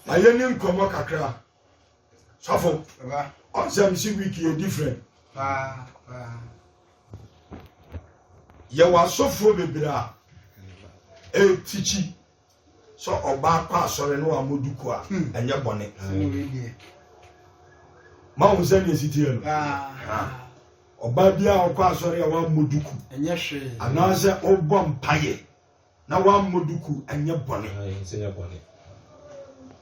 na yɛ ni nkɔmɔ kakra sɔfo ɔnsɛm si week yɛ different yɛ wɔ asɔfoɔ bebree a ɛtikyi sɛ ɔbaa kɔ asɔre ne wɔn duku a hmm. ɛnyɛ bɔne ma wɔn sɛ deɛ ɛsitiɛ no ɔbaa bi a ɔkɔ asɔre a wɔn duku anaasɛ ɔbɔ mpaeɛ Na wammɔ duku anyɛ bɔne. Na yɛn nsa nyɛ bɔne.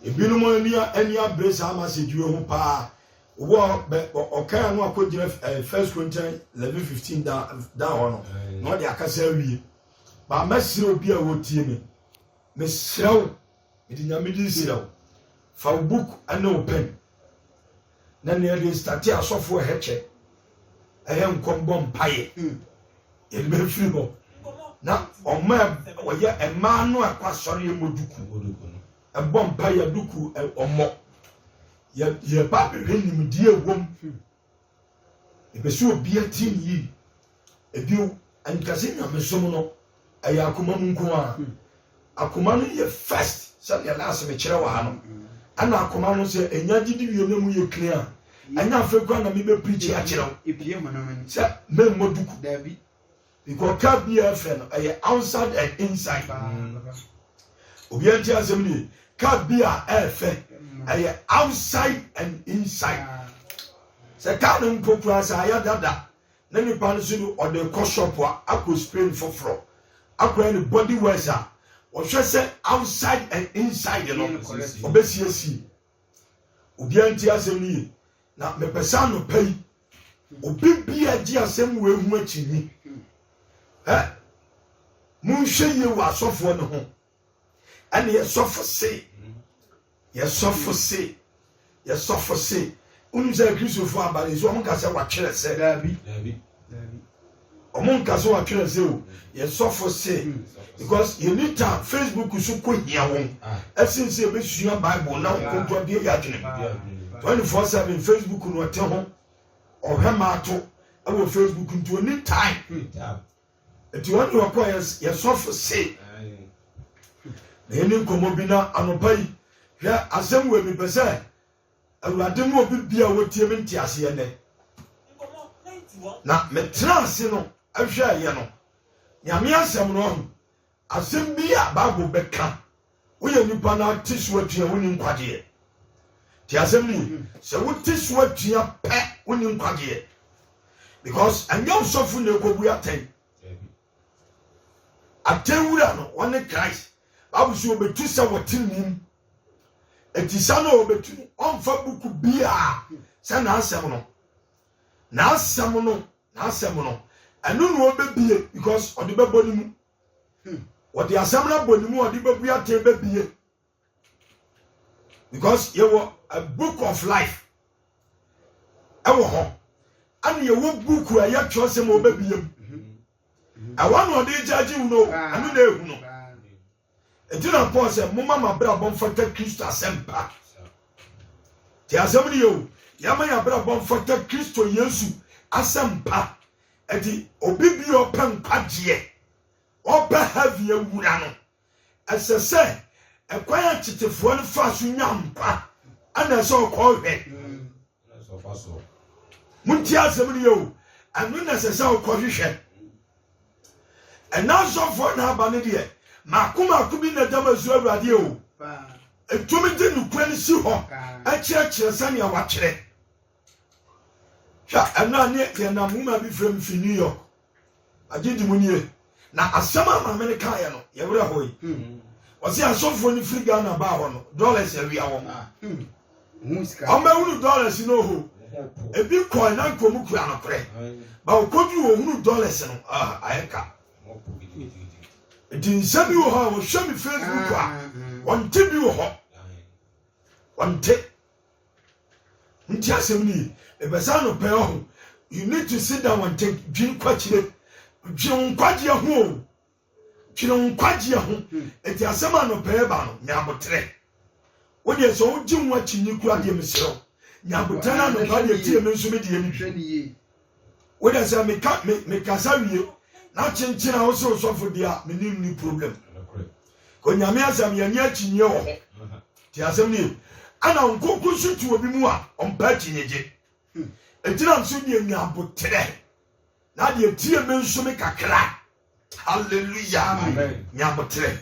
Ebinom ani ani abere saa message yi ho paa. Wɔ bɛ ɔkan ano akɔgyina eh, first Corinthians eleven fifteen da da hɔ no na ɔde akasa awie. Ba mɛsrɛ obi a wɔtie me, mesrɛ wo, mede nyame din srɛ wo, fa wo book ne wo pen Na nea yɛde nstate asɔfo ɛhɛkyɛ ɛyɛ nkɔm bɔ mpaeɛ yɛde bɛ firi hɔ na ɔma ɔyɛ mmaa no akɔ asɔre yɛ mmɔ duku ɛbɔ mpaeɛ duku ɔmmɔ yɛba bɛhwɛ nimdeɛ ɛwom ɛbɛsɛ obi atie ne yie Bio, nka sɛ nyamesom no ɛyɛ akoma mu nko ara. Akoma no yɛ first sɛdeɛ last mekyerɛ wɔ ha no. Ɛna akoma no sɛ ɛnya gyidi wie na ɛmu yɛ clean a, ɛnyɛ afei koraa na mebɛ preachi akyerɛ wo sɛ memmɔ duku. Because car biara frɛ no ɛyɛ outside and inside. Obiara ntie asɛm nie, car biara ɛɛfɛ ɛyɛ outside and inside. Sɛ car no mpo koraa sɛ ayɛ dada na nipa no so no ɔde rekɔ shop a akɔ Spain foforɔ akɔyɛ no body wash a wɔhwɛ sɛ outside and inside no ɔbɛsiesie obiara nti asɛm no yie na mepɛ sɛ anɔpa yi obi bia gye asɛm wei ho akyinnye ɛ monhwɛ yie wɔ asɔfoɔ no ho ɛne yɛsɔfo se yɛsɔfo se yɛsɔfo se wonim sɛ kristofo aba no nso ɔmo nka sɛ watwerɛ sɛ daabi ɔmo nka sɛ watwerɛ sɛ o yɛsɔfo se because yɛni ta facebook so kɔ hia wɔn ɛsen sɛ yɛbɛsua bible na wɔn kɔnto adeɛ yɛ adwene mu 24 7 facebook no ɔte ho ɔhwɛ maato ɛwɔ facebook nti ɔni time Nti wɔn de wɔkɔ yɛ yɛ sɔfo se na yɛne nkɔmmɔ bi na anɔpa yi hwɛ asɛm wei mepɛ sɛ awurade mu obi bia wɔtie me nte aseɛ nɛ na metena ase no ahwɛɛyɛ no nyame asɛm no ahu Asɛm bi a Bible bɛka, Woyɛ nipa na te so atua a, wonni nkwagyeɛ. Nti asɛm no ye. Sɛ wote so atua pɛ, wonni nkwagyeɛ. Because ɛnyɛ ɔsɔfo na ɛkɔbu atɛn. Atɛn wura no, ɔne Christ. Bible so ɔbɛtu sɛ wɔte nim. Ɛti sa no a ɔbɛtu no, ɔmfa buku biaa sɛ n'asɛm no. N'asɛm no N'asɛm no ɛno na ɔbɛbie because ɔde bɛbɔ ne mu. Ɔde asɛm no abɔ ne mu ɔde bɛbue atɛn bɛbie because yɛwɔ a book of life ɛwɔ hɔ ɛne yɛwɔ buku a ɛyɛ twerɛsɛm a ɔbɛbie mu. Ɛwɔ na ɔde gyagye wo no ɛno na ɛhu no. Enti na Paul sɛ, Momma mo abrabɔ mfata Kristo asɛmpa. Te asɛm no yɛ o, yɛma yɛn abrabɔ mfata Kristo Yesu asɛmpa. Enti obi bi a ɔpɛ nkwagyeɛ, ɔpɛ heaven awura no, ɛsɛ sɛ ɛkwan a tetefoɔ no faa so nya nkwa ɛna ɛsɛ ɔkɔhwɛ. montie asɛm no yɛ o ɛno na ɛsɛ sɛ wokɔhwehwɛ ɛna asɔfoɔ na aba no deɛ maako maako bi na da ma su awurade o ɛtumi de nokorɛ no si hɔ ɛkyerɛkyerɛ sɛnea watwerɛ hwɛ ɛno a ne yɛnam nwoma bi frɛ m fi new york Agyedi mu nie. Na asɛm a maame no kaeɛ no, yɛ werɛ hɔ yi. Hmm. Ɔse asɔfoɔ no firi Ghana baa hɔ no, dollars awia wɔn. Ɔmɛhunu hmm. dollars no ho. Ebi kɔɛ na nkɔ mu kura nokorɛ. Ba ɔkɔduru wɔhunu dollars no, ah, ayɛ ka. Nti nsɛm bi wɔ hɔ a wɔhwɛ me Facebook a, ah, hmm. wɔnte bi wɔ hɔ. Wɔnte. Nti asɛm ni, ebɛsan no pɛɛ ho, you need to sit down and think, dwen kwakyire, dwen wo nkwagyeɛ ho o, dwen wo nkwagyeɛ ho, hmm. eti asɛm a no pɛɛ ba no, nya aboterɛ. Wo deɛ sɛ wogye ho akyinnye kura deɛ meserɛ wo, nya aboterɛ na anɔpa deɛ tie me nso me deɛ ne bi. Wo de sɛ meka me me kasa wie na kyenkyen a wose osɔfo di a me nim ni problem. Ko nyame asɛm yɛ ni akyinye wɔ ho. Ti asɛm ni ye. Ana nkonko so ti obi mu a ɔmpa akyinye gye. Egyina me so deɛ nya aboterɛ na deɛ tie me nso me kakra. Hallelujah. Amen. Nya aboterɛ.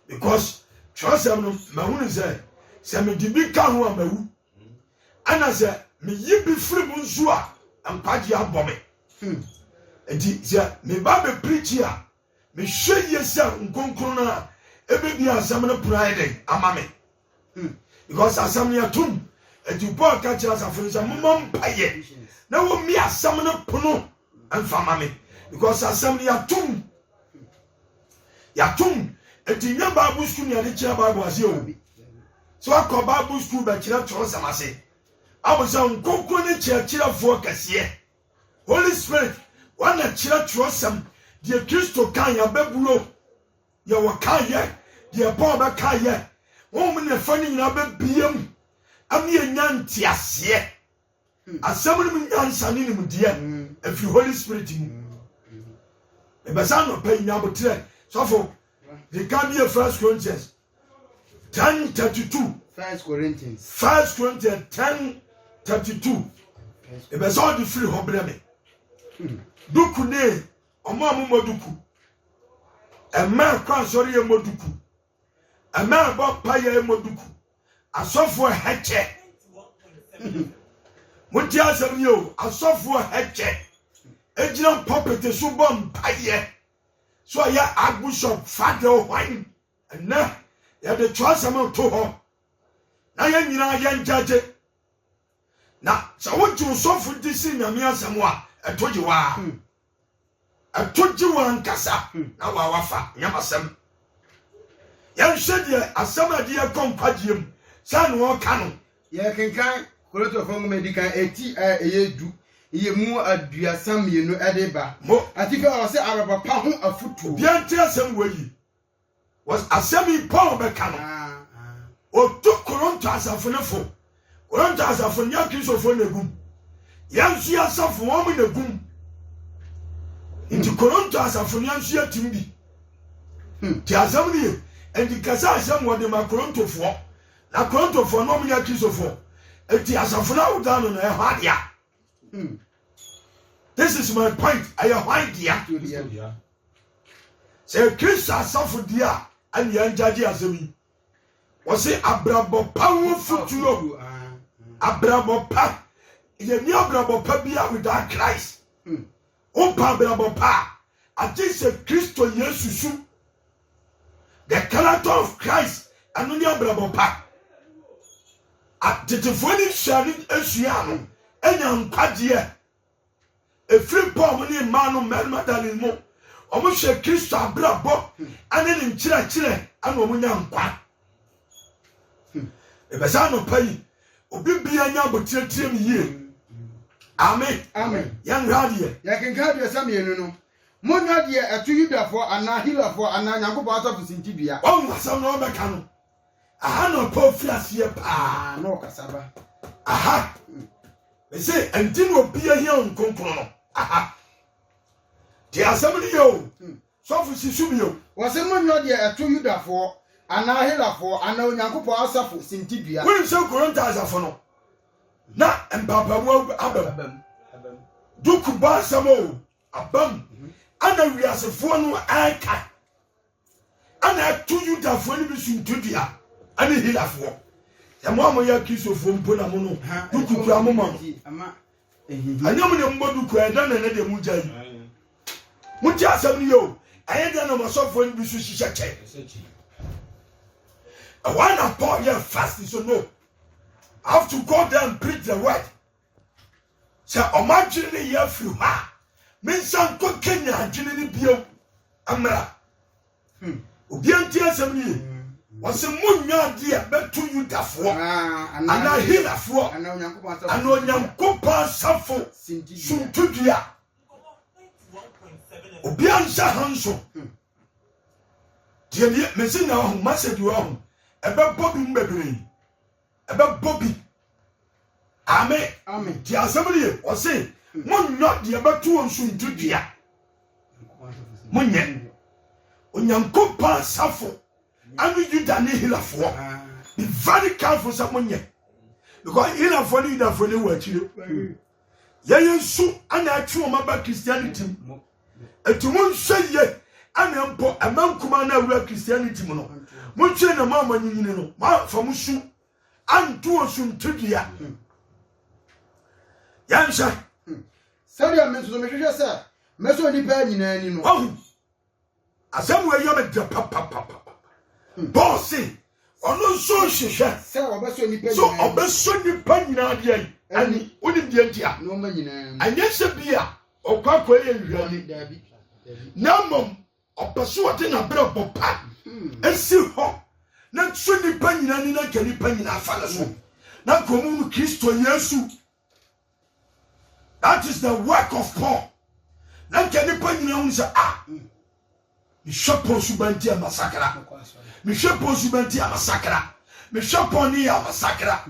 Because twerɛsɛm no mahunu sɛ sɛ mede bi ka ho a mawu Ɛna sɛ me yi bi firi mu nso a nkwagyeɛ abɔ me. Enti sɛ me ba bɛ preachi a, me hwɛ yie sɛ nkronkron no a ɛbɛ bie asɛm no pono ayɛ dɛn ama me. Because asɛm no yɛ tom. Enti Paul ka kyerɛ asafo no sɛ momɔ mpaeɛ na wɔmmie asɛm no pono Ɛnfa ma me because asɛm no yɛatom yɛatom ɛti nyɛ bible school ne yɛde kyerɛ bible ase o sɛ wakɔ bible school bɛkyerɛ twerɛsɛm ase abo sɛ nkonkro ne kyerɛkyerɛfoɔ kɛseɛ holy spirit wana kyerɛ twerɛsɛm deɛ kristo ka yɛabɛbuo yɛwɔ ka yɛ deɛ paul bɛka yɛ wɔn ne fa no nyinaa bɛbia mu ɛne ɛnya nteaseɛ Asɛm no mu nyansa ne nimdeɛ ɛfiri Holy Spirit mu. Mebɛsa anɔpa yi nyabotrɛ sɔfo yɛka bie First Corinthians 10:32 First Corinthians First Corinthians 10:32 ɛbɛsɛ ɔde firi hɔ brɛ me hmm. duku ne ɔmo a momɔ duku ɛma ɛkɔ asɔre yɛ mmɔ duku Amen bɔ mpa yɛ mɔ duku. Asɔfoɔ hɛkyɛ. Motie asɛm ni o. Asɔfoɔ hɛkyɛ. Egyina pɔpete so bɔ mpa yɛ. So ɔyɛ Archbishop Fadil hwan? Ɛnɛ yɛde twerɛsɛm to hɔ na yɛn nyinaa yɛn gyagye. Na sɛ wogye osɔfo di si nyame asɛm a ɛto gye waa. Hmm. Ɛto gye wo ankasa na w'awafa nyɛ m'asɛm. Yɛnhwɛ deɛ asɛm a ɛde yɛn kɔ nkwagyeɛ mu sɛ na ɔreka no. Yɛkenkan Korintofoɔ nwoma a ɛdikan eti a ɛyɛ du yɛ mu aduasa mmienu ɛde ba. Mo. Atifi hɔ ɔse awerɛbɔ pa ho afutuo. Obiara ntie asɛm wei yie. Wɔs asɛm yi Paul bɛka no, ɔtu Koronto asafo no fo. Koronto asafo no nyɛ Kristofoɔ na ɛgum. Yɛn nso yɛ asafo wɔn na ɛgum. Nti Koronto asafo no yɛn nso yɛtim bi. Hmm. Ti asɛm no ye. Nti kasa asɛm wɔde ma Korontofoɔ. Na Korontofoɔ no wɔn nyɛ Kristofoɔ. Nti asafo no awoda no no ɛyɛ hɔ adea. Hmm. This is my point. Ɛyɛ hwan dea? Sɛ yɛ Christ asafo deɛ a ɛne yɛn gyagye asɛm yi. Wɔse abrabɔ pa ho futuo. Abrabɔ pa. Yɛni abrabɔ pa biara without Christ. Hmm. Wopɛ abrabɔ pa a, agye sɛ Kristo Yesu su. The character of Christ, ɛno ne abrabɔ pa. Atetefoɔ no nsuane nsuaa no, ɛnya nkwagyeɛ. Ɛfiri mpa a wɔn ani mmaa no mmarima da no mu, wɔhwɛɛ Kristo abrabɔ ne ne nkyerɛkyerɛ na wɔnya nkwa. Ɛbɛsa anɔpa yi, obi bia nya abotire tie me yie. Amen. Amen. Yɛn hwɛ adeɛ. Yɛn kenkan abiɛsa mmienu no. Monyɛ deɛ ɛto Yudafoɔ anaa Helafoɔ anaa Nyankopɔn asɔfo sintidua. Wɔn asɛm na wɔbɛka no. Aha na ɔtɔ fi aseɛ paa. Na ɔkasa ba. Aha. Ɛsɛ ɛnti na obi ahia wo nkonkron no. Aha. Te asɛm no yɛ o. Hmm. Sɔfo si so bio. Wɔsɛ mo nyɔ deɛ ɛto Yudafoɔ anaa Helafoɔ anaa Onyankopɔn asafo sintidua. Wonim sɛ Korinto asafo no na mpaapamu abam. Duku bɔ asɛm o abam. Ana wiasefoɔ no ɛka. ɛna ɛto yudafoɔ no bi so ntodua ɛne hilafoɔ ɛmo a moyɛ kristofoɔ mpo na mo no dukukura mo ma no ɛnyɛ mo deɛ mobɔ duku ɛyɛ dɛn na ɛnɛ deɛ mogya yi mote asɛm no yɛ o ɛyɛ dɛn na masɔfoɔ no bi so hyehyɛ kyɛ ɛwɔ na paul yɛ fast so no I have to go there and preach the word Sɛ wɔn adwene no reyɛ afiri hɔ a, mensan nkɔkanyan adwene no bio mmra. Hmm. Obi antie asɛm no yie. Wɔse monnya ade a bɛto Yudafoɔ anaa Helafoɔ anaa Onyankopɔn asafo suntudua. Obi anhyɛ ha nso. Hmm. Deɛ mese nya wahu, masɛ bi wahu. Ɛbɛbɔ bi mu bebree. ɛbɛbɔ bi ame nti asɛm no ye ɔse monyɔ deɛ bɛto wɔ nsunti dua monyɛ onyankopɔn asafo ɛne yuda ne hilafoɔ be very careful sɛ monyɛ because hilafoɔ ne yudafoɔ ne wɔ akyire yɛyɛ nso ana atwe wɔn aba christianity mu Enti monhwɛ yie ɛna mpo ɛma nkumaa no awura Christianity mu no monhwɛ na mo a moanyinyini no moamfa mo su anto wɔ su ntedua yɛnhwɛ sɛdeɛ me nso mehwehwɛ sɛ mɛsɔ nnipa nyinaa ni no Asɛm wei yɛ me dɛ papapapa. Hmm. Paul se ɔno nso nhwehwɛ sɛ ɔbɛsɔ nnipa nyinaa deɛ yi ani wonim deɛ nti a ɛnyɛ sɛ bi a ɔkɔ akɔ yɛ nhwɛni na mmom ɔpɛ sɛ ɔde n'abrabɔ pa hmm. asi hɔ na nso nnipa nyinaa ni na nka nnipa nyinaa fa no so hmm. na nka ɔmo no kristo yesu That is the work of Paul. Na nka nipa nyinaa hu sɛ ah mehwɛ Paul suban ti a masakra mehwɛ Paul suban ti a masakra mehwɛ Paul ne yɛ a masakra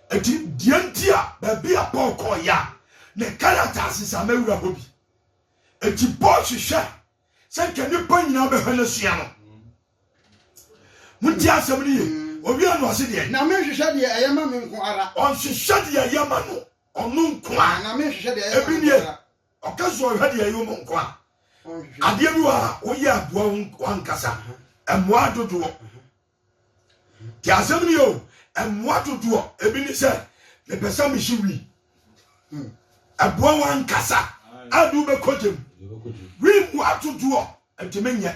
ɛti deɛ nti a baabi a Paul kɔɔ yɛ a ne characters nsa mɛwura hɔ bi ɛti Paul hwehwɛ sɛ nka nnipa nyinaa bɛhwɛ no asua no monti asɛm no ye ɔwia no ɔse deɛ na menhwehwɛ deɛ ɛyɛ ma me nko ara ɔnhwehwɛ deɛ ɛyɛ ma no ɔno nko a na menhwehwɛ deɛ ɛyɛ ma me nko ara ɔka so ɔhwɛ deɛ ɛyɛ ma nko a adeɛ bi wɔ a woyɛ aboa wankasa mmoa dodoɔ Te asɛm ni o, mmoa dodoɔ ebi ne sɛ mepɛ sɛ mehye wi. Hmm. Ɛboa wɔn ankasa a de wobɛkɔ gyam. Wi mmoa dodoɔ ɛde menyɛ.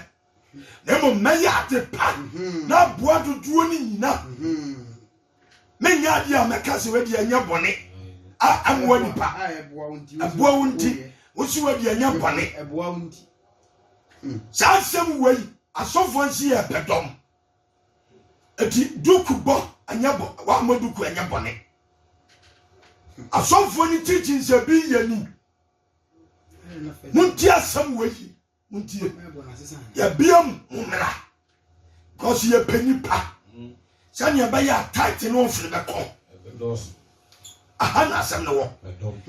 Na mmom mɛyɛ ade pa mhm. na aboa dodoɔ no nyina. Mhm. Menyɛ adeɛ a mɛka sɛ wadi ɛnyɛ bɔne a ɛmmoa nipa. Ɛboa wo nti, wosi wadi ɛnyɛ bɔne. Saa nsɛm wei asɔfoɔ nso yɛ pɛ dɔm. Eti duku bɔ ɛnyɛ bɔ wɔamɔ duku ɛnyɛ bɔne. Asɔfoɔ ne teaching sɛ bi yɛ ni. Montie asɛm wei yi montie. Yɛbia mu mo mmra. Because yɛpɛ nipa sɛnea ɛbɛyɛ a tight ne ɔfin bɛkɔ aha na asɛm no wɔ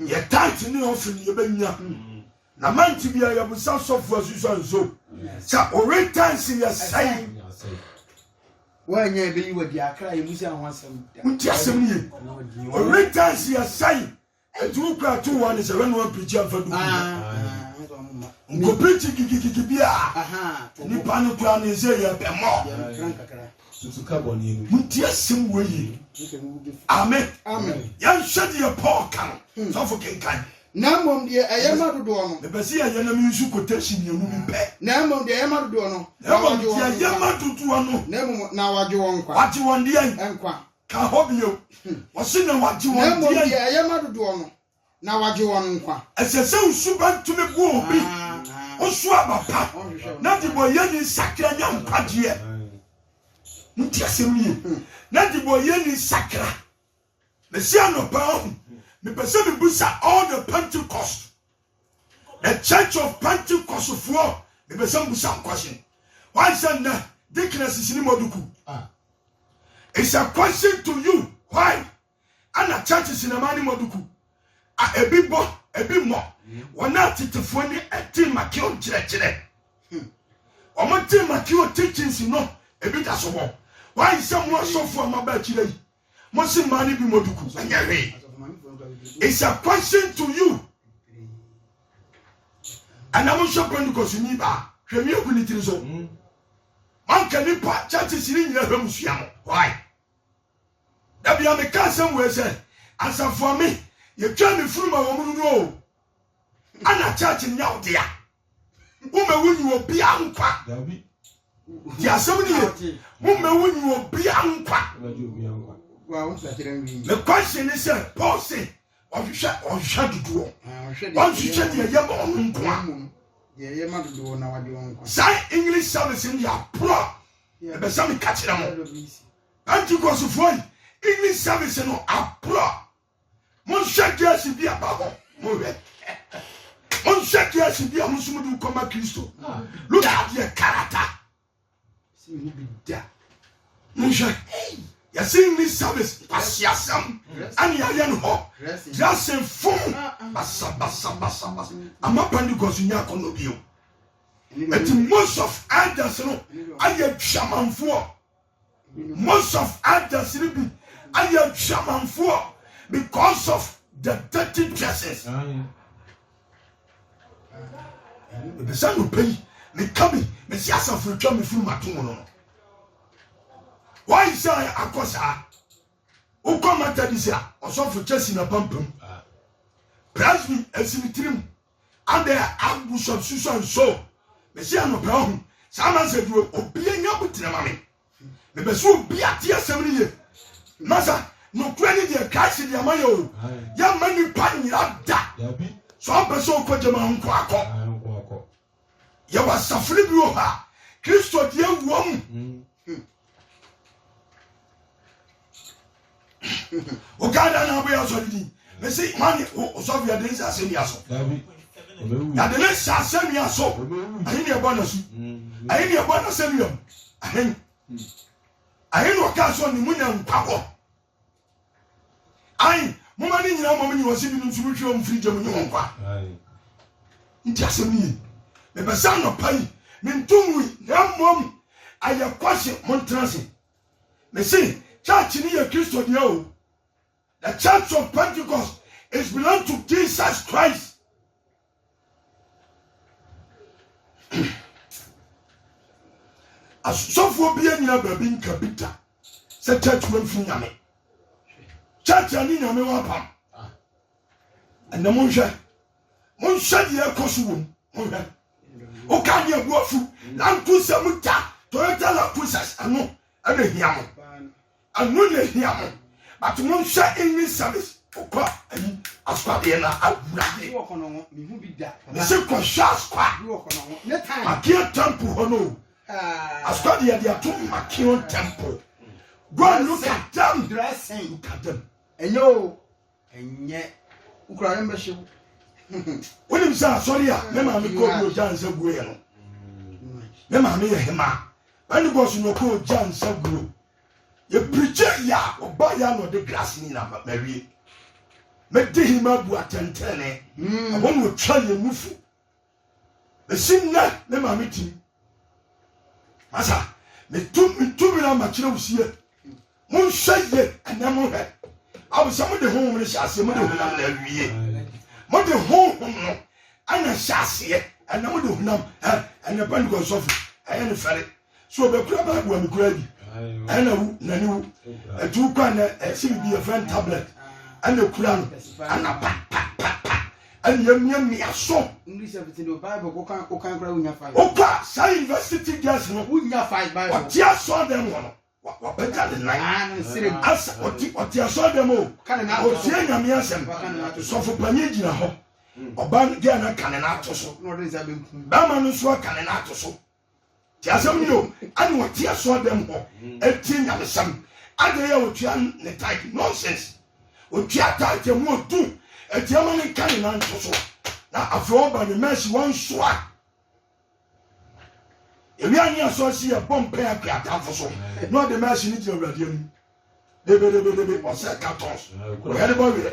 yɛ tight ne ɔfin ne yɛbɛnya na mante bia yɛbusa sɔfo asusa nso sɛ ɔwe tansi yɛ sɛe wɔanya ɛbɛyi wadi akra yɛ mu sɛ ho asɛm nti asɛm no ye ɔwe tansi yɛ sɛe Etuo kura to wa ne sɛ wɛn wa pirikyi anfa du bi na nko pirikyi gigigigi bi a nipa ne kura ne nse yɛ bɛ mɔ. Muti asem wɔ yi. Amen. Yɛn hwɛ deɛ Paul ka no. Hmm. Sɔfo kenkan. Na mmom deɛ ɛyɛ ma dodoɔ no. Mepɛ sɛ yɛyɛ na mensu quotation mmienu bi pɛ. Na mmom deɛ ɛyɛ ma dodoɔ no. Na mmom deɛ ɛyɛ ma dodoɔ no. Na mmom na wagye wɔn nkwa. Wagye wɔn deɛ. Nkwa. ka hɔ bio. Ɔse na wagye wɔn deɛn? Na mmom deɛ ɛyɛ ma dodoɔ no, na wagye wɔn nkwa. Ɛsɛ sɛ wo suban tumi boa obi, wo so aba pa, na debɔyɛni sakra nya nkwagyeɛ. Monte asɛm no yie. Na debɔyɛni sakra. Mese anɔpa, ɔhu, mepɛ sɛ mebisa all the Pentecost The Church of Pentecostfoɔ mebɛsɛm busa wo question. Why sɛ nnɛ deaconess ne moduku? Ah. It's a question to you. Why? Ana churches na ma ne moduku? A ebi bɔ, ebi mmɔ. Wɔn a tetefoɔ ne ɛte makeo nkyerɛkyerɛ. Wɔn te makeo teachings no ebi da so bɔ. Why sɛ mo asɔfoɔ a maba akyire yi? Mosi mmaa no bi mmɔ duku ɛnyɛ hwee. It's a question to you. Ɛna mo hwɛ Pentecost ni baa hwɛ mi egu ne tiri so. Hmm. Manka nipa churches ni nyina hwɛ mu sua mo. Why? Dabi a meka asɛm wei sɛ asafo ame yɛtwa ne funuma wɔn mu no o. Ana church nyɛ wo dea? Womɛwu nyi obia nkwa. Ti asɛm no yɛ. Womɛwu nyi obia nkwa. Me question ne sɛ Paul se ɔhwehwɛ ɔhwehwɛ dodoɔ. Ɔnhwehwɛ deɛ ɛyɛ ma ɔno nko a. Deɛ ɛyɛ ma dodoɔ na wagye wɔn nkwa. Saa English service no yɛ aporɔ. Ɛbɛ sɛ meka kyerɛ mo. Pentecost foɔ yi English service no aporɔ. Monhwɛ gyasi bi aba hɔ. Monhwɛ. Monhwɛ gyasi bi a mo nso mo de kɔma Kristo. Look at your character. Sɛ mo bi da. Monhwɛ. Yɛsi ni service kwasi asɛm ɛna yɛayɛ no hɔ. Dressing fun basa basa basa basa. Ama Pentecost nya akɔnɔ bio. Ɛti most of elders no ayɛ dwamanfoɔ. Most of elders ni bi ayɛ adwamanfoɔ because of the dirty dresses. Ebi sɛ no pɛ yi, me ka bi, me si asafo atwa me firi mato mu no. Why sɛ akɔ saa? Wokɔ Methodist a, ɔsɔfo kyɛ si na pampam. Presby esi ne tirim. Adɛn a Archbishop Susan So Mese anɔpa yi ɔho saa nansa duro obia nya abotire ma me mebɛsɛ obi ate asɛm no ye nasa nokora ne deɛ Christ de ama yɛ o yɛ ma nipa nyera da so ampɛ sɛ okɔ gyama nko akɔ Yɛwɔ asafo no bi wɔ hɔ a Kristo di awu wɔn. O Ghana na aboyɛ asɔre di. Mesi mani o sɔfo yɛ den sɛ asɛnnua so. Yɛde ne hyɛ asɛnnua so. Ahe ne ɛbɔ na su. Ahe ne ɛbɔ na asɛnnua mu. Ahe. Ahe na ɔka so ne mu na nkwa wɔ. Ae, momma ne nyinaa mmom nyi wɔn se binom nso mu hwie wɔn mfiri gya mu nye wɔn nkwa. Nti asɛm no ye. Mepɛ sɛ anɔpa yi mento nwui na mmom ayɛ kwase montena ase. Mese church no yɛ Kristo deɛ o. The church of Pentecost is belong to Jesus Christ. Asɔfoɔ bi anyina baabi nka bi da sɛ church wamfiri nyame. Church a ne nyame wɔ apam. Ɛnɛ monhwɛ, monhwɛ deɛ ɛkɔ so wɔ mu, monhwɛ. Woka ne abu afu, lankusa mu ta, Toyota lankusas, ɛno ɛna hia mo. Ɛno na ehia mo but monhwɛ English service kɔ ayi asukwa deɛ na awurade mese kɔhwɛ asukwa makeɛ temple hɔ no asukwa deɛ deɛ to makeɛ temple go and look at them look at them ɛnyɛ o Ɛnyɛ wo koraa yɛn bɛhye wo. Wonim sɛ asɔre a me maame kɔ bi ogya nsa guo yɛ no me maame yɛ hema Pentecost na ɔkɔ ogya nsa guo yɛ pirikye yɛ a ɔba yɛ na ɔde glass ni na mawie mede hema bu atɛntɛne ɛhɔ na ɔtwa yɛ nufu Bɛsi nnɛ me maame tim. Masa metu me tumi no ama kyerɛ wo sie. Monhwɛ ye ɛnɛ monhwɛ. Bible sɛ mode honhom no hyɛ aseɛ mode honam na awie. Mode honhom no ɛna hyɛ aseɛ ɛnɛ mode honam ɛnɛ Pentecost sɔfo ɛyɛ ne fɛre. So obekura Bible a mekura bi? Ɛna wu na ne wu ɛtu kɔ a na ɛsi bibi yɛfrɛ no tablet ɛna ekura no ɛna pa pa pa pa ɛna yɛmiamia so. Wokɔ a saa university girls no ɔte asɔɔ dɛm hɔ no wapagya ne nan ah, asa ɔte ɔte asɔɔ dɛm o ɔtie nyame asɛm sɔfo panyin gyina hɔ hmm. ɔba gɛɛ no aka ne n'ato so bɛrima no nso aka ne n'ato so. Tie asɛm yi o, ɛna wɔte asɔɔ dɛm hɔ ɛtie nyamesɛm, adɛn yɛ ɔtua ne tithe, nonsense, ɔtua tithe ɛmu ɔdu, ɛdeɛ ma no nka ne nan nto so, na afei ɔba ne mercy wansoa, ɛwia ne asɔɔ si yɛ bɔ mpɛ akua atamfo so, na ɔde mercy no gyina awurade anim, debedebedebe, ɔsɛ cartons, ɔyɛ de bɔ werɛ.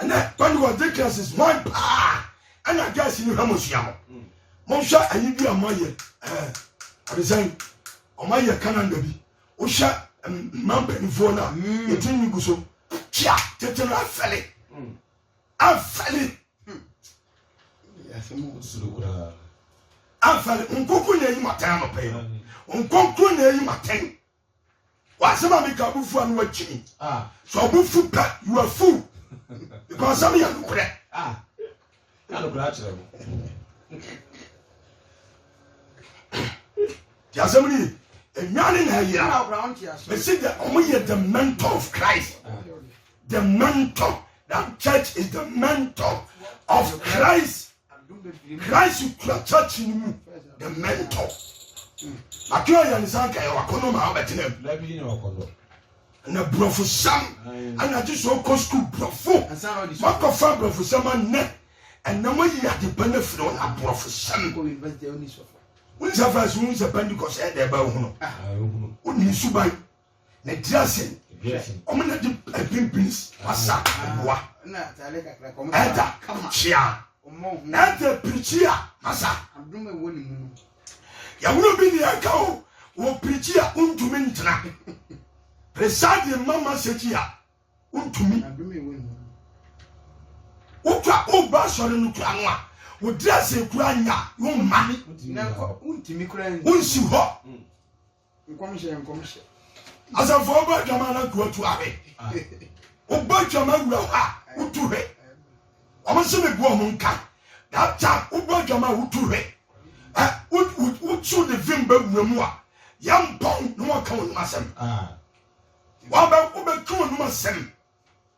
ɛnɛ pentecost differences hwan paa ɛna gɛɛsi no hwɛ mo sua no monhwɛ ayi bi a moayɛ ɔde sɛn ɔmayɛ canada bi wohwɛ mma mpanimfoɔ no a yɛtiri hmm. nwi gu so kyia tete no afɛle hmm. afɛle hmm. afɛle nkonko na eyi ma tɛn anɔpɛ yi no nkonko na eyi ma tɛn W'asɛm a meka bo fu a na wakyi mi. Sɛ ɔbo fu pɛ, you are fool. Because asɛm yɛ nokorɛ. Ka nokorɛ akyerɛ no. Ti asɛm no yie. Enwane na ɛyera. Mesi dɛ ɔmo yɛ the mentor of Christ. The mentor. That church is the mentor of Christ. Christ kura church ni mu the mentor mate ɔyɛ ne san kaeɛ wakɔnɔ maa wobɛtena mu na borɔfo sɛm ana agye sɛ ɔkɔ sukuu borɔfo makɔfa borɔfo sɛm annɛ ɛnam ayi ade pa no afiri wo na borɔfo sɛm wone sɛ fɛs wohu sɛ pentecost ɛyɛ dɛ ba wohunu wone suban Ne dressing ɔmo na di ɛpin beans asa ɛboa ɛda kyia ɛda pirikyi a asa yɛwuro bi ni ɛka o wɔ pirikyi a ntumi ngyina presadi mama sɛkyi a ntumi wotwa woba sɔre no kura no a wo dressing kura nya wo mma wonsi hɔ. Nkɔmhyɛ yɛ nkɔmhyɛ. Asafo ɔba adwama na tu atu ahwɛ. Ɔba adwama wura hɔ a wotu hwɛ. Wɔn se me bu wɔn nka. That time wobɔ adwama a wotu hwɛ. Wotu de vim bɛ wura mu a yɛ mpɔn na wɔka wɔn asɛm. Wɔn bɛ wɔn bɛ tu wɔn asɛm.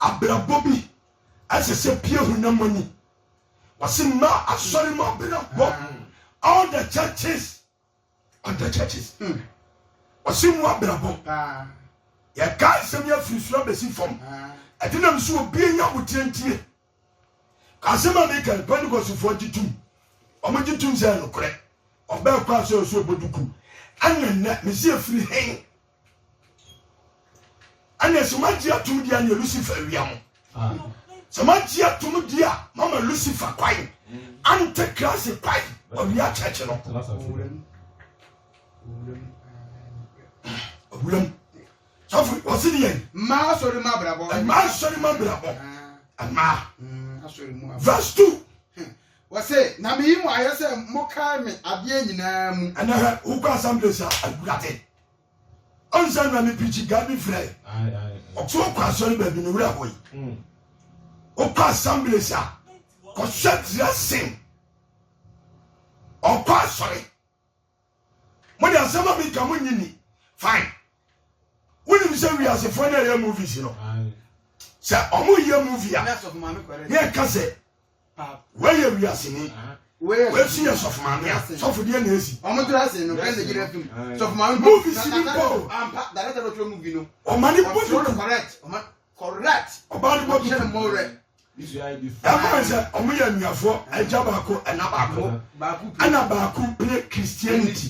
Abrabɔ bi a ɛsɛ sɛ pie honam ani. Wɔse mma asɔre mu abrabɔ. All the churches. All the churches. Mm. Wɔse mu abrabɔ. Yɛka nsɛm yi afiri soro abɛsi fam. Ɛdenam so obi anya abotire ntie. Ka asɛm a meka yi, Pentecostfoɔ gye tom. Wɔgye tom sɛ ɛyɛ nokorɛ. Ɔbaa kɔ a sɛ ɔsɛ ɔbɔ duku. Ɛne nnɛ, mese ɛfiri hen? Ɛne sɛ moagye atom deɛ neɛ Lucifer awia mo. Sɛ moagye atom deɛ a mama Lucifer kwan. Antikrase kwan, ɔwia kyɛkye no. Owuram. Sɔfo yi, ɔsi deɛ. Mmaa asɔre mu abrabɔ. Mmaa asɔre mu abrabɔ. Mmaa. Mm, asɔre mu abrabɔ. Verse two. Hmm. Wɔse, na meyi mo ayɛ sɛ mokae me adeɛ nyinaa mu. Ɛnɛ hɛ, wokɔ assemblies a, awurade. Ɔnsɛ na me pikyi Gabi frɛ. Ɔte wokɔ asɔre baabi ne wura hɔ yi. Hmm. Wokɔ assemblies a, kɔhyɛ dressing. Ɔkɔ asɔre. Mo de asɛm a mi ka mo nyi ni fine. Wonim sɛ wiasefoɔ no ɛyɛ movies no sɛ ɔmo yɛ movie a ne ɛka sɛ wei yɛ wiaseni wei so yɛ sɔfo maame a sɔfo deɛ na esi movies ni mpo ɔma ne bɔ ne ti Correct. Ɔbaa no bɔ tutu paa. Ɛfan sɛ ɔmo yɛ anuafoɔ, agya baako, ɛna baako. Ɛna baako pire Christianity,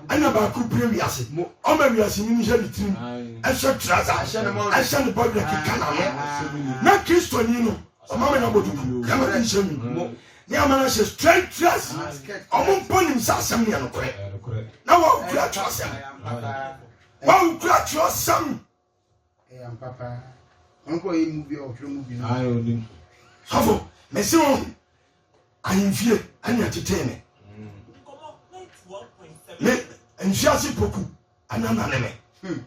ɛna baako pire wiase. Ɔma wiase nyini hyɛ ne tirim, ɛhyɛ trouser, ɛhyɛ ne bɔdwerɛ keka n'ano. Na Kristoni no, ɔma me no abɔ duku, ɛma ne nhyɛ nwi mu, ne ama no ahyɛ straight dress. Ɔmo mpo nim sɛ asɛm no yɛ nokorɛ. Na wawu kura twerɛsɛm. Wawu kura twerɛsɛm. Ɛyɛ ampa paa. Ɔno kɔ yɛ mu bi a ɔtwerɛ mu bi. Ayi onim. Sɔfo, mese wo ahemfie ɛne ɛtetee me. Me mfiase poku ɛna nane me. Hmm.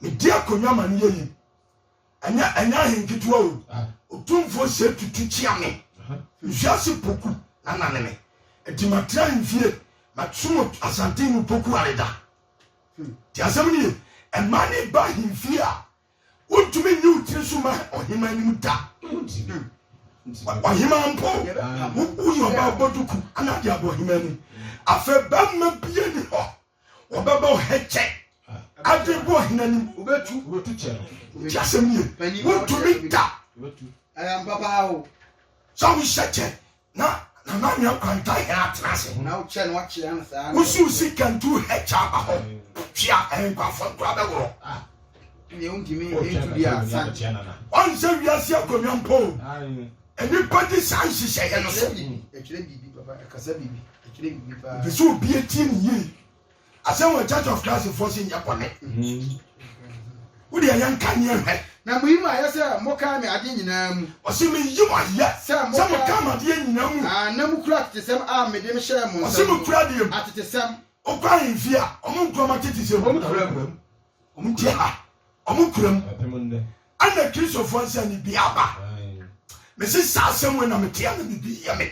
Medi akonnwa ma no yɛ yim. Ɛnyɛ ɛnyɛ ahenketewa o. Ah. Otumfoɔ sɛ tutu kyia me. Mfiase poku na nane me. Ɛti matra ahemfie. Masom asante mu poku areda. Hmm. Ti asɛm no ye. Ɛma ne ba ahemfie a, wontumi nyi wo tiri so ma ɔhema anim da. Hmm. Ɔhema mpo, woyɛ ɔba abɔduku ana de abɔ ɔhema anim. Afei bɛma bia ni hɔ, wɔbɛbɔ ɔhɛkyɛ ade bɔ ɔhena anim. Ti asɛm no ye. Wontumi da. Sɛ wohyɛ kyɛ Na nana anwea kwanta hɛn atena ase. Hena wokyɛ no akyea no saa. Wosu si kantu hɛkya aba hɔ. Twea ɛnkwafo nkora bɛworɔ. Ah, ɛne wontumi ntu bi a san. Ɔnsɛ wiase akonnwa mpo. Nnipa di saa nhyehyɛeɛ no so. Ɛkyerɛ biribi papa, ɛkasa biribi, ɛkyerɛ biribi paa. Ɛpɛ sɛ obi atie ne yie. Asɛm wɔ Church of Christ foɔ se nyɛ bɔne. Wo deɛ yɛn ka neɛ hwɛ. Na mo yi mo ayɛ sɛ mo kaa me adeɛ nyinaa mu. Ɔse me yi mo ayɛ sɛ mo kaa me adeɛ nyinaa mu. Aah na mo kura atetesɛm a me dem hyɛɛ mo nsam no. Ɔse mo kura deɛ mu. Atetesɛm. Wo kɔ ahemfie a ɔmo nkura ɔmo atetesɛm. Ɔmo kura mu. Ɔmo te ha ɔmo kura mu. Ɛte mo nnɛ. Ɛna Kristofoɔ nsa ni biaa ba. Mese saa asɛm wei na me te a na biribi yɛ me.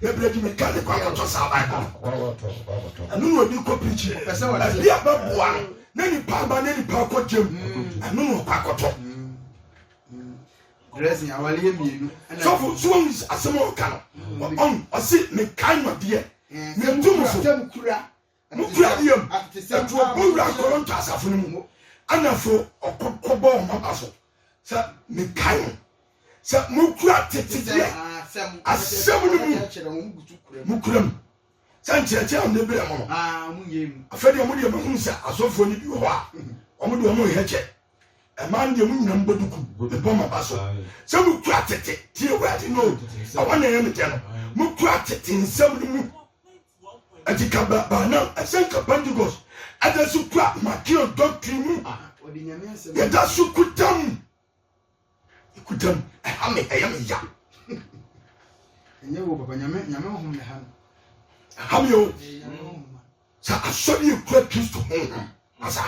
Bebree gye me ka ne kwan a ɔtɔ saa Bible no. Ɛno na ɔde kɔ preaching. Baabi a bɛboa no na nipa aba na nipa akɔ gyam. Ɛno na ɔkɔ akɔtɔ. Sɔfo nso wɔn asɛm a ɔka no ɔn ɔsi mekae nɔdeɛ. Mɛtu mu so. Mo kura ne yam ɛtu ɔbɔ wura Koronto asafo no mu ɛna fo ɔkɔ kɔbɔ wɔn aba so sɛ me kae mo sɛ mo kura tete deɛ asɛm no mu mo kura mu sɛ nkyerɛkyerɛ wɔn de berɛ mo no afɛ deɛ mo deɛ mahunu sɛ asɔfoɔ no bi wɔ hɔ a wɔn deɛ wɔn nhɛ kyɛ ɛmaa no deɛ mo nyina mbɔ duku mebɔ mo aba so sɛ mo kura tete tie wura de no ɛwɔ na ɛyɛ me dɛ no mo kura tete nsɛm no mu Enti ka bra baanam ɛsɛn ka Pentecost ɛdɛ so kura Mateo doctrine mu a yɛda so kuta mu kuta mu ɛha me ɛyɛ me ya ɛnyɛ wo papa nyame nyame honhom ne ha no ɛha me o sɛ asɔre yɛ kura Kristo honhom asa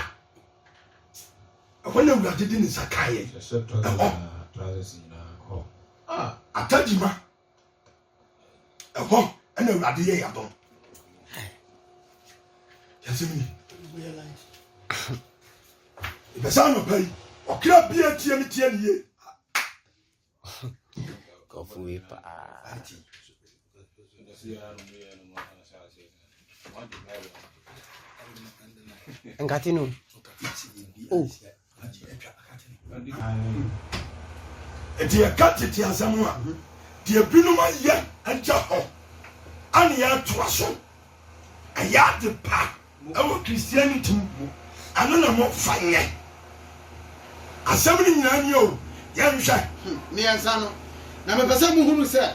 ɛhɔ na awurade de ne nsa kaeɛ ɛhɔ atadima ɛhɔ ɛna awurade yɛ yadom yɛsɛm ni ɛbɛsɛ anɔpa yi ɔkra bia tie me tie ne yie kɔfo yi paa nkate no oh Enti yɛka tete asɛm a deɛ binom ayɛ agya hɔ ane yɛatoa so ɛyɛ ade pa ɛwɔ Christianity mu ɛno na mofa nyɛ asɛm no nyinaa ni o yɛnhwɛ mmiɛnsa no na mepɛ sɛ mohunu sɛ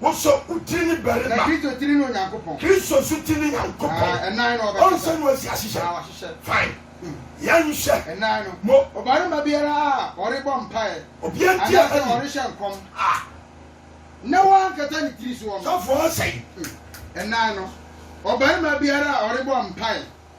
Wosɔ wo tiri ne barima. Na Kristo tiri ne Onyankopɔn. Kristo so tiri ne Nyankopɔn. Na ɛnan no ɔbɛkata. Ɔnsɛ no asi ahyehyɛ. Na wahyehyɛ. Fine. Yɛnhwɛ. Ɛnan no. Mo. Ɔbarima biara a ɔrebɔ mpaeɛ. Obi antie asɛm yi. Anaasɛ ɔrehyɛ nkɔm. Ah. Na wankata ne tiri soɔ no. Sɔfoɔ ɔsɛe. Ɛnan no. Ɔbarima biara a ɔrebɔ mpaeɛ.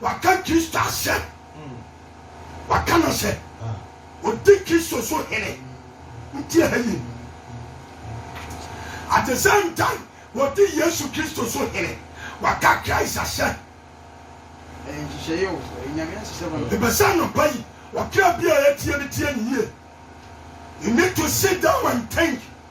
Waka Kristo asɛm. Waka no sɛ odi Kristo so hene. Nti ɛha ye. At the same time, wɔdi Yesu Kristo so hene. Waka Christ asɛm. Mepɛ sɛ anɔpa yi ɔkra bi a ɛretie no tie no yie. You need to sit down and think.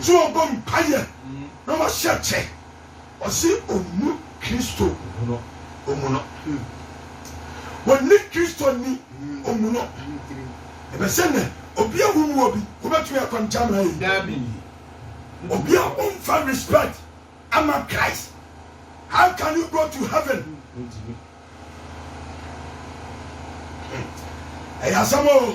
dze ɔbɔ mpayɛ na ɔahyɛ kyɛ. Ɔse onnu Kristo no omu no. Wonnyi Kristo nnyi omu no. Ebɛ sɛ ndɛ obi a wonnyi obi wobɛtumi akɔ nkyɛn ama aeyi? Daabi. Obi a ɔmmfa respect amma Christ, how can you go to heaven? Ɛyɛ asɛm oo.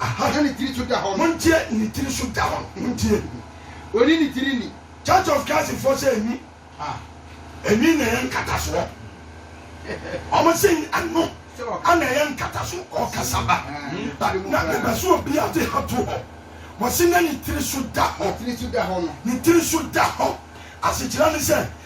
Aha. Na ne tiri so da hɔ no. Montie, ne tiri so da hɔ no, montie. Ɔnni ne tiri nni. Church of Christ foɔ sɛ nwi a. Nwi na ɛyɛ nkatasoɔ. Wɔn se ɛno na ɛyɛ nkataso ɔkasa ba. Na meba sɛ obi a ɔde ha to hɔ. Wɔse na ne tiri so da hɔ. Ne tiri so da hɔ no. Ne tiri so da hɔ. Asekyerɛ ne sɛ.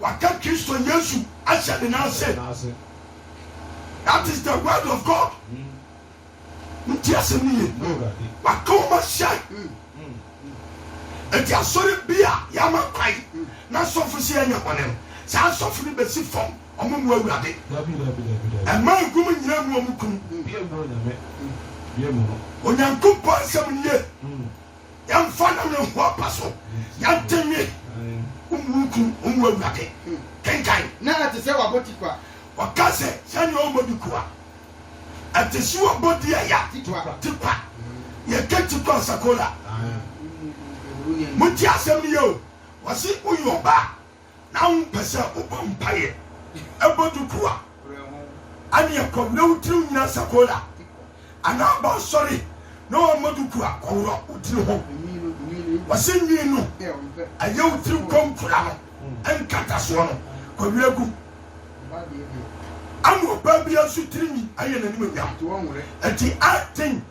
waka Kristo Yesu ahyɛ ne nan ase. That is the word of God. Nti asɛm no ye. Waka wɔn ahyɛ. Nti asɔre bi a yɛama kwae na asɔfo si yɛnyɛ bɔne no, saa asɔfo no besi fam, wɔn mu Awurade. Ɛma egum nyinaa mu wɔn kunu. Onyankopɔn asɛm no ye. Yɛmfa nam ne ho apa so na denne omununkum ɔmu awurade. Kenkan. Na ɛte sɛ wabɔ tikwa. Wɔka sɛ sɛnea ɔmmɔ dikua. Ɛte sɛ ɔbɔ di ɛya. Tikwa. Tikwa. Yɛka tikwa ɔsakola. Motie asɛm no yɛ o. Wɔse woyɛ ɔbaa. Na wompɛ sɛ wobɔ mpaeɛ bɔ duku a ɛne ɛkɔm na wo tiri nyina sakola anaa ba asɔre na wammɔ duku a wɔworɔ wo tiri ho. Wɔse nwi no ɛyɛ wo tiri konkura no nkatasoɔ no kɔwerɛ gu mu. Ama ɔbaa biara nso tiri nwi ayɛ n'animuonyam. Enti I think.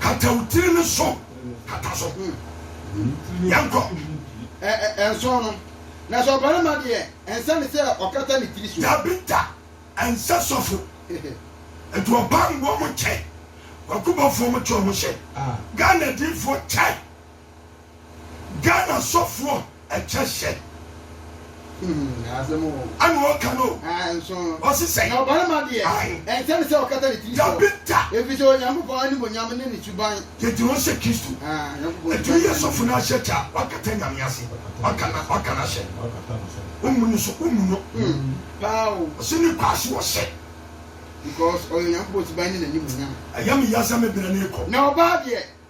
Kata wo tiri no so. Kata so. Yɛnkɔ. Ɛ ɛ ɛnsɔn no. Na sɛ ɔbarima deɛ, ɛnsɛ no sɛ ɔkata ne tiri so. Dabi da, ɛnsɛ sɔfo. Nti ɔbanbɔ mo kyɛ, kwaku bɔfoɔ mo te ɔmo hyɛ, Ghana adiifoɔ kyɛ. Ghana sɔfoɔ ɛkyɛ hyɛ. ɛna ɔka no ɔse sɛ na ɔbarima deɛ ɛnsɛ ne sɛ ɔkata ne tiri so ɛfiri sɛ onyankopɔn animonyam ne ne suban yɛgyina hɔ sɛ kristo ɛtumi yɛ sɔfo no ahyɛ kyɛ a wakata nyame ase waka no ahyɛ womu no so womu no ɔse ne kwaa so ɔhyɛ because ɔyɛ onyankopɔn suban ne n'animuonyam ɛyɛ me ya sɛ me berɛ ne rekɔ na ɔbaa deɛ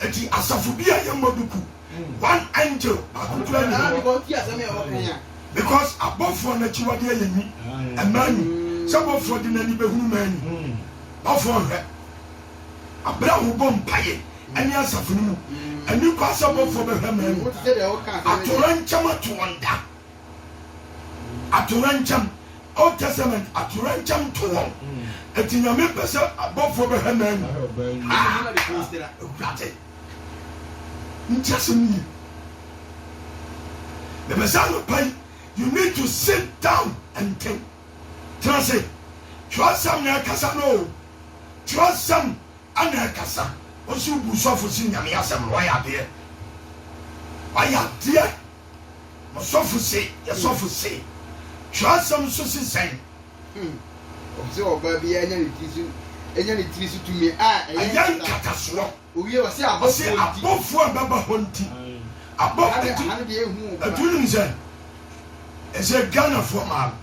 Enti asafo bi a yɛmmɔ do ku one angel baako koraa nni hɔ, because abɔfoɔ no akyiwadeɛ yɛ nyi, ɛmmaa nyi, sɛ bɔfoɔ de n'ani bɛhunu mmaa nyi, bɔfoɔ nhwɛ aberɛ a wobɔ mpaeɛ ɛne asafo no mu, ɛnni kwa sɛ bɔfoɔ bɛhwɛ mmaa nyi, atorankyɛm ato wɔn da. Atoyerɛnkyɛm, Old Testament atoyerɛnkyɛm to wɔn. Enti Nyame pɛ sɛ abɔfoɔ bɛhwɛ mmaa mu. Haa! Awurade! Nti asɛm no ye. Mepɛ sɛ anɔpa yi you need to sit down and think. Tena ase. Twerɛsɛm na ɛkasa no o. Twerɛsɛm na ɛkasa. Wose wobu sɔfo se Nyame asɛm no, wayɛ adeɛ. Wayɛ adeɛ. Ɔsɔfo se, yɛ sɔfo se. Twerɛsɛm nso se sɛn? Ɔpɛ sɛ ɔbaa biara nya ne tiri so nya ne tiri so tumi a ɛyɛ nkatasoɔ. Owie ɔse abɔfoɔ nti. Ɔse abɔfoɔ a ɛbɛba hɔ nti. Abɔfoɔ nti. Aha no deɛ ehu o. Ɛtu nim sɛ ɛsɛ Ghanafoɔ maa no.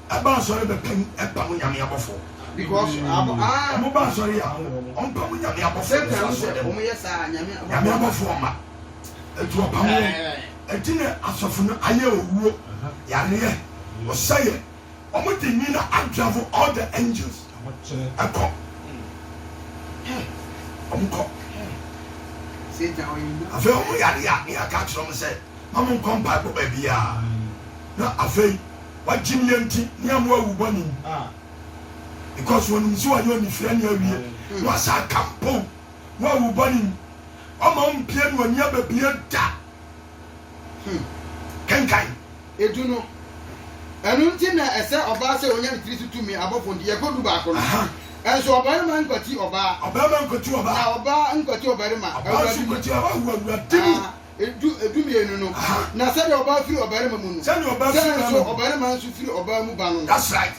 ɛba asɔre bɛpɛ mu ɛpa mo nyame abɔfo ɔmo ba asɔre a ɔmpa mo nyame abɔfo nyame abɔfo ɔma ɛtu ɔpa mo ɛti ne asɔfo no ayɛ owuo yareɛ ɔsɛyɛ ɔmo de nyi na adravo all the angels ɛkɔ ɔmo kɔ afei ɔmo yare a ne yɛaka akyerɛ ɔmo sɛ ma mo nkɔ mpaebɔ baabiaa na afei wagye me nti ne ama wawu bɔne mu ah because onim sɛ wayɛ onifirɛ ne awie na wasa aka mpo na wawu bɔne mu ɔma ɔmpie ne ɔni ababie da hmm. kenkan edu no ɛno nti na ɛsɛ ɔbaa sɛ ɔnya ne tiri so tumi abɔfo nti yɛkɔ du baako no ɛnso ɔbarima nkwati ɔbaa ɔbarima nkwati ɔbaa na ɔbaa nkwati ɔbarima ɔbaa nso nkwati ɔbaa awurade mu ah. du du mmienu no na sɛdeɛ ɔbaa firi ɔbarima mu no sɛdeɛ ɔbaa firi ɔbarima mu ɔbarima nso firi ɔbaa mu ba no that's right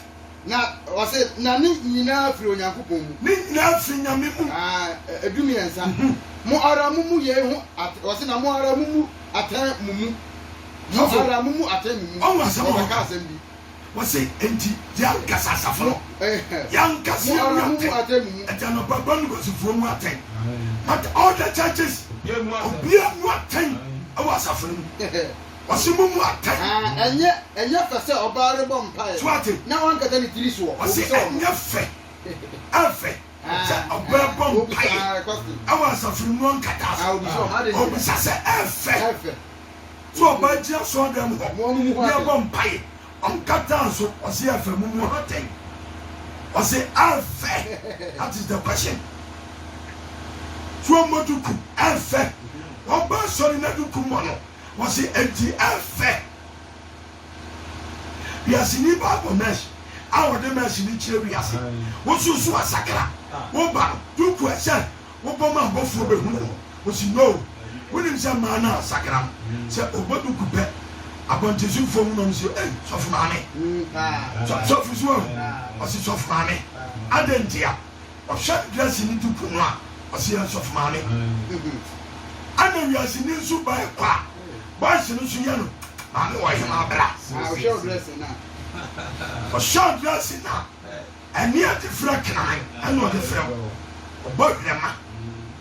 na ɔsɛ na ne nyinaa firi onyankopɔn mu ne nyinaa firi nyame mu ah, edu mmiɛnsa mhm. mo ara mo mu yei ho ɔsɛ na mo ara mo mu atɛn mo mu mo ara mo mu atɛn mo mu ɔwɔ asɛm ɔbɛka asɛm bi Wɔse, Enti yɛankasa asafo no, yɛankasa yɛn mu atɛn, agya no ba ba no Kwasifoɔ mu atɛn, but all the churches, obiara mu atɛn wɔ asafo no mu. Wɔse, Mo mu atɛn. Wɔse, Ɛnyɛ fɛ sɛ ɔbaa rebɔ mpaeɛ na wankata ne tiri soɔ. Wɔse, Ɛnyɛ fɛ, ɛmfɛ. sɛ ɔbɛbɔ mpaeɛ wɔ asafo no mu ɔnkata so ɔbisa sɛ ɛfɛ sɛ ɔbɛgyina asɔɔdɛm hɔ ne ɛbɔ mpaeɛ ɔnkata so ɔse ɛfɛ mu mu ha tɛn ɔse ɛfɛ that is the question so ɔmmɔ duku ɛfɛ ɔba asɔre na duku mmɔ no ɔse ɛnti ɛfɛ Wiase nnipa bɔ mesh a wɔde mesh no kyerɛ wiase wosow so asakra wo ba no duku ɛsɛ wobɔ ma abɔfoɔ bɛhunu no ɔsi no wonim sɛ mmaa no asakra no sɛ ɔbɔ duku pɛ abɔntensofoɔ hunu ɔm se ei sɔfo maame sɔfo so wahu ɔse sɔfo maame adɛn ntia Ɔhwɛ wiase no di ku no a, ɔse yɛ nsɔfo maame. Ɛna wiase ni nso ba ɛkɔ a, boys no nso yɛ no maame wɔ hemaa bra. Ɔhwɛ ɔdrɛse no a. Ɔhwɛ ɔdrɛse no a, ɛneɛ de frɛ kenaman ɛna ɔde frɛ wo. Ɔbɔ hwerɛma.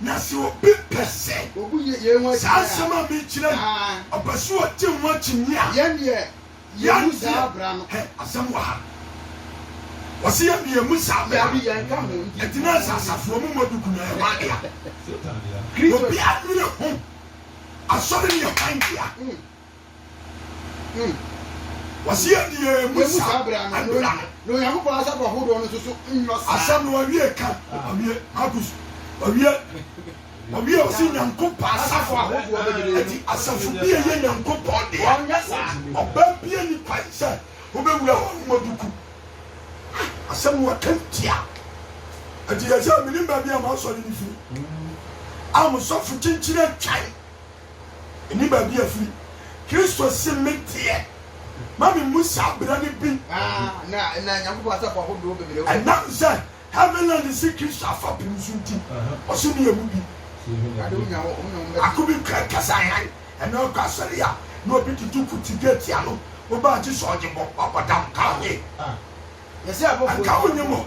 Na sɛ obi pɛ sɛ saa nsɛm a mekyerɛ yi, ɔpɛ sɛ ɔgye ho akyinnye a, yɛn deɛ, yɛmu saa bra no. Hɛ, asɛm wɔ ha. Wɔse yɛn deɛ, yɛmu saa bra no. Dabi, yɛnka ho. Ɛgyina sɛ asafoɔ mu mmɔdugu no yɛ hwan dea? Obiara nnwene ho. Asɔre no yɛ hwan dea? Hmm. Wɔsi yɛ ni yɛ emu sa abira no. Na Onyankopɔn asafo ahodoɔ no soso nyɔ saa. Asɛm no wawie ka wawie Marcus wawie wawie ɔsi Nyankopɔn asafo ahodoɔ bebree ɛti asafo bi yɛ yɛ Nyankopɔn deɛ. Wɔnyɛ saa. Ɔbaa bi ani kwan sɛ wobɛwura hɔ no mabuku. Asɛm no waka ntia. Ɛti yɛ sɛ menim baabi a masɔre no firi. A mo sɔfo kyenkyene atwan. Nni baabi a ɛfiri. Kristo se me deɛ, ma me mmu saa bra no bi. Ɛnam sɛ Heavenland se Kristo afapem so nti, ɔse me yɛ mu bi. Ako bi kura kasa hann, ɛnna ɔkɔ asɔre a, na obi tutu ku te gate ano. Woba a, gye sɛ ɔgye bɔ, wabɔ dam, ka ho he. Anka wonnim o.